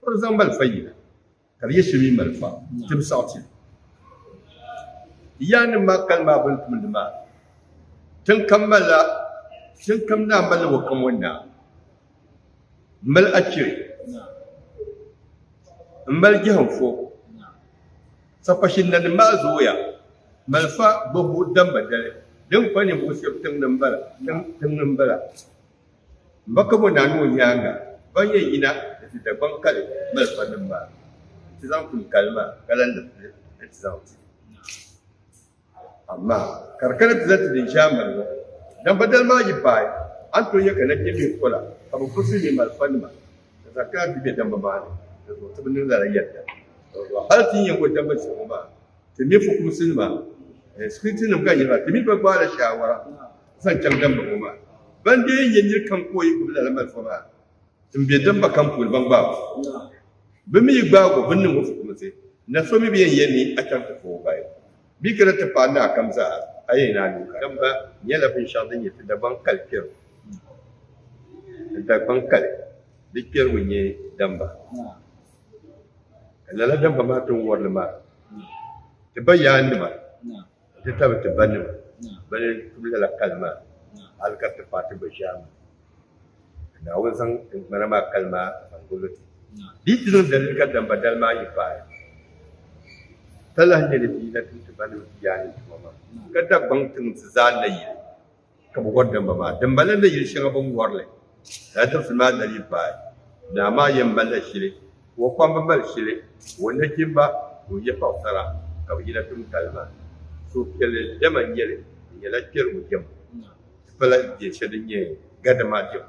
Ka di zaŋ malifa yina, ka di yɛshɛ mi malifa tibisɛɣu ti ya nim maa kali maa bini tumdi maa. Tiŋkam malila, tiŋkam naa malila o kam o naa m-mali achiri, m-mali jɛhinfo. Sapashinnanim maa zooya, malifa gbabbu damba dali din kpa ninvuɣ shɛb tiŋ ni m-bala. M ba kabo naa ni o nyaaŋa ban yɛn yina ni ti Dagbaŋ kali malifanim maa nti zaŋ kuni kali maa ka lan di pili ni ti zaŋ ti Amaa ka di kana ti zaŋ ti din ʒiɛm mali ŋɔ. Dambadali maa yi paai, a ni tooi nya ka nachimbihi pola ka bɛ furisi ŋme malifanima n-zaŋ kana ti be damba maa ni, dinzuɣu ti bi niŋ lala yɛlda. Hal ti ni yɛn bo damba zihibu maa, ti mini fukumsinima, sikiritinim ka n nyɛ ba, ti mi bi gbaai la shaawara. zaŋ chaŋ damba ŋɔ maa. Ban dee n-nyɛ nir kam ka o yi gbibi lala malifa maa m-be damba kam puuni, ban gbaag o. Bɛ mi yi gbaag o, bɛ ni niŋ o fukumsi, na so mi bi yɛn yɛl ni a chaŋ ti foo o bahi bee kana ti paai naa kam zaa, a yɛn ni a lu ka. Damba nyɛla binshɛɣu din nyɛ ti Dagbaŋ kali kpɛrigu. Ti Dagbaŋ kali di kpɛrigu n-nyɛ damba. Ka lala damba maa ti ni wɔri li maa, ti bayaannima, Ti tabi ti ba nima bɛn tum lala kali maa, hal ka ti paai ti gba ʒiɛhi mi, ka Naawuni zaŋ tiŋgbana maa kali maa zaŋ gul ti. Di ti niŋ daliri ka damba dali maa yi paai, ka lahi nya ni bɛ yi na tum ti ba nima ti yaannim tuma maa, ka Dagbaŋ ti niŋ ti zaa nayili. ka bɛ wari damba maa. Dimbala ni yili shɛŋa bɛ ni wari li lala tiŋfili maa nali yi paai, naa maa yɛn malila shili ka o kpamba mali shili ka o nachimba ŋun nyɛ Paɣisara ka bɛ yina tum kali maa. Suhupiɛlli dɛma n-nyɛ li, di nyɛla kpɛrigu dɛma nti pala dɛn shɛli din nyɛ gadama dɛma.